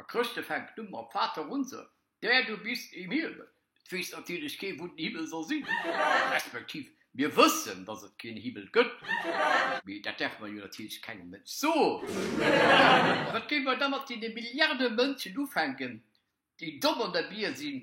A Chrëschte fänkt u mam Vaterunser, Der du bist im Himmel. Et weess natierlech kee wou den Himmel soll sinn, respektiv mir wëssen, datt et keen Himmel gëtt, mee dat däerf mer jo natierlech kengem Mënsch soen. Wat géife mer da mat deene Milliarde Mënschen ufänken, déi domm an der Bier sinn,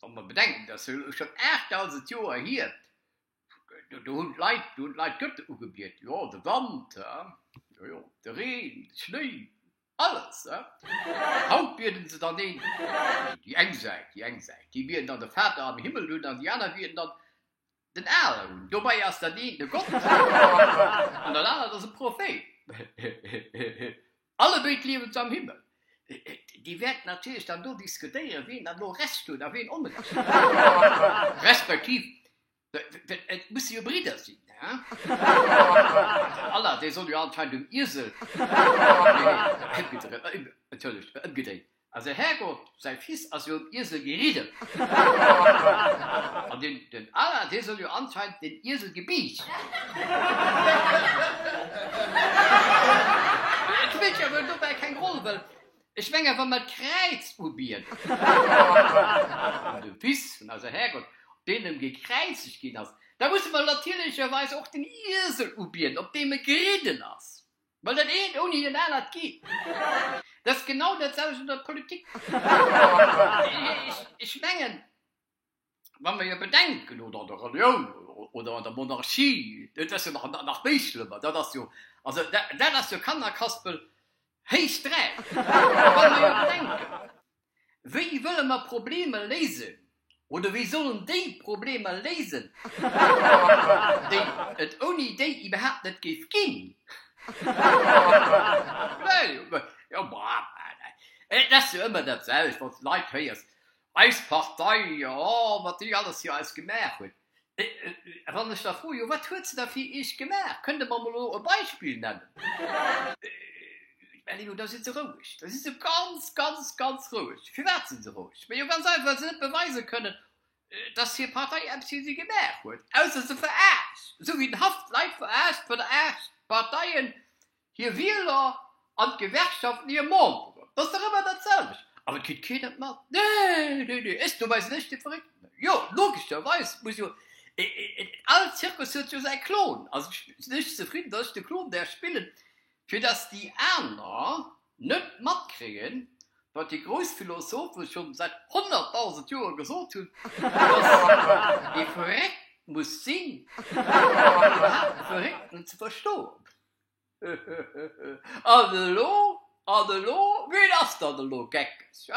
Wann mer bedenken, dass elo schon 8.000 Joer hier, do hunn d'Leit, do hunn d'Leit d'Götter ugebiet, jo, de Wand, jo, jo, de Reen, de Schnéi, alles, haut bieden se dann een, déi eng Säit, déi eng Säit, déi bieden dann de Vater am Himmel un an déi aner bieden dann Den Aaron, dobei ass dat eent e Gott an dat anert ass e Prophet. Allebéid liewen se am Himmel. Dir wäert natierlech dann do diskutéieren, wien dann elo Recht huet a wien Onrecht huet, respektiv, well et musse jo Bridder sinn, he? Voilà, dee soll jo anscheinend um Iesel, nee, ëmgedréit, entschëllegt, ëmgedréit, Also Härgott, säi Fils ass jo um Iesel geridden. An den Alain, dee soll jo anscheinend den Iesel gebiicht. Et spillt jo wuel dobäi keng Roll, well ech mengen, wa mer d'Kräiz ubien an de Fils vun eise Härgott op deenem gekräizegt ginn ass, da musse mer natierlecherweis och den Iesel ubien op deem e geridden ass. Well dat eent ouni dat anert geet net. Dat ass genau dat selwecht an der Politik. Ech mengen, wa mer jo bedenken, oder an der Relioun oder an der Monarchie, dat ass jo nach méi schlëmmer, dat ass jo, also dat ass jo Kannerkaspel héich 3, wa mer jo bedenken, Wéi wëlle mer Problemer léisen? Oder wéi sollen déi Problemer léisen, déi et ouni déi iwwerhaapt net géif ginn? Et ass jo ëmmer dat selwecht, wann s de Leit héiers, Eis Partei, jo, wat déi alles fir eis gemaach huet. Wann ech da froen, jo wat huet se da fir iech gemaach, kënnt der mer emol elo e Beispill nennen? Ellinor, Da si se roueg, da si se ganz, ganz, ganz roueg. Firwat si se roueg? Majo ganz einfach, well se net beweise kënnen, datt hir Partei eppes fir si gemaach huet, ausser se veraarscht, esou wéi den Haff d'Leit veraarscht, veraarscht d'Parteien Hir Wieler an d'Gewerkschaften hir Memberen. Dat ass dach ëmmer dat selwecht. Awer et kritt keen et mat. Nee, nee, nee, ech no bei sech de Verréckten. Jo, logescherweis muss jo all Zirkus huet jo säi Clown. Also ech sinn héchst zefridden, datt ech de Clown däerf spillen, fir datt déi aner net matkréien, wat déi grouss Philosophe schonn säit honnertdausend Joer gesot hunn, datt ee verréckt muss sinn, fir iwwerhaapt e Verréckten ze verstoen. An elo? An elo? Wien ass dann elo geckeg, he?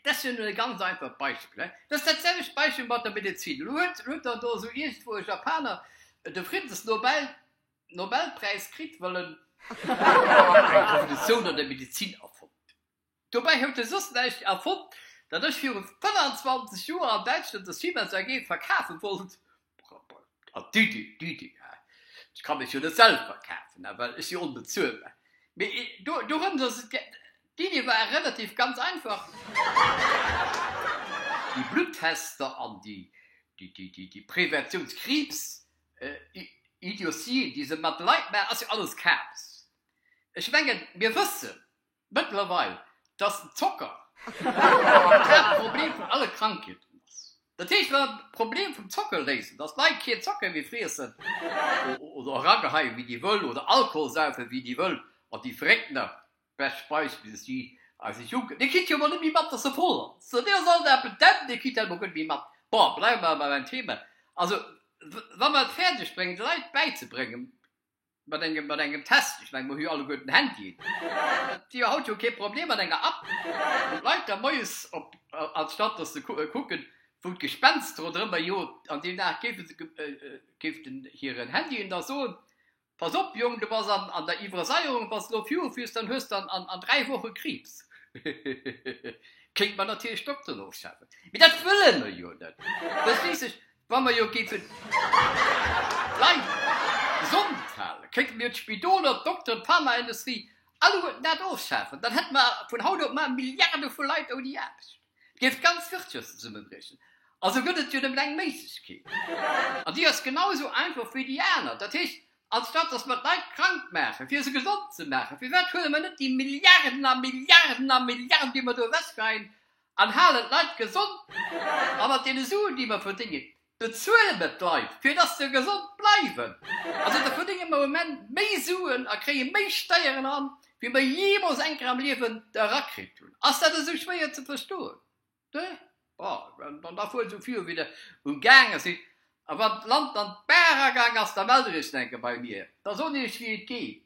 Dat ass jo nun e ganz einfacht Beispill, he? Dat ass dat selwecht Beispill mat der Medezin. Elo huet dann do esou iergendwou e Japaner de Friddensnobelpräis kritt, well en d'Revolutioun an der Medezin erfonnt huet. Dobäi huet e soss näischt erfonnt, dat ech viru 25 Joer an Däitschland der Siemens AG verkafe wollt. An Didi, Didi, ech ka mech jo net selwer verkafen, well ech si onbezuelbar. Mee dorëms ass et gaang. D'Iddi war relativ ganz einfach, déi Bluttester an déi Preventiounskriibs-Idiotien, déi se mat Leit maachen, ass jo alles Kabes. Ech mengen, mir wëssen, Mëttlerweil, dass den Zocker d'Haaptproblem vun alle Krankheeten ass. Dat heescht, wann een d'Problem vum Zocker léist, dass d'Leit keen Zocker méi friessen oder erageheien, wéi déi wëllen, oder Alkohol saufen, wéi déi wëllen, an déi Verréckt nach bescht speisen, wéi se si eise Jonken, dee kritt jo emol net méi mat, dass se voll ass, dee ass alt a petent, dee kritt dat emol guer net méi mat. Bon, bleiwe mer bei mäin Thema. Also, wa mer et fäerdeg bréngen, de Leit bäizebréngen, Mat engem, mat engem Test. Ech meng, mer hu jo alleguer den Handy. Et wier haut jo kee Problem mat enger App, wou d'Leit da moies op, anstatt datt se kucken, wou d'Gespenster oder ëmmer jo an deem Dag, géife se, géif den hiren Handy en da soen, Pass op, Jong, du bass an der Iwwersaierung, wa s elo virufiers, dann hues de an dräi Woche Kriibs. Hehe, kéint mer natierlech d'Dokteren ofschafen, mee dat wëlle mer jo net. Verstees sech, Wa mer jo géifen bleiwen, gesond halen, kéinte mir d'Spidoler, d'Dokteren, d'Pharmaindustrie, alleguerten dat ofschafen. Dann hätte mer vun haut op mar Milliarde vu Leit ouni Aarbecht. Et géif d'ganz Wirtschaft zesummebriechen. Also gëtt et jo nëmmen eng Méiglechkeet. An déi ass genau esou einfach wéi déi aner. Dat heescht, anstatt datt mer d'Leit krank maachen, fir se gesond ze maachen, firwat huele mer net déi Milliarden a Milliarden a Milliarden, déi mer do ewechgeheien, An halen d'Leit gesond. A mat deene Suen, déi mer verdéngen, bezuele mer d'Leit, fir dass se gesond bleiwen. Also da verdénge mer am Enn méi Suen a kréie méi Steieren eran, wéi mer jeemools eng Kéier am Liewen erakritt hunn. Ass dat esou schwéier ze verstoen? Nö? Bon, dann da fuert esou viru, wéi der ugaange sidd. A wann d'Land an d'Bar agaangen ass, da mellt der iech nach eng Kéier bei mir. Da soen ech iech, wéi et geet.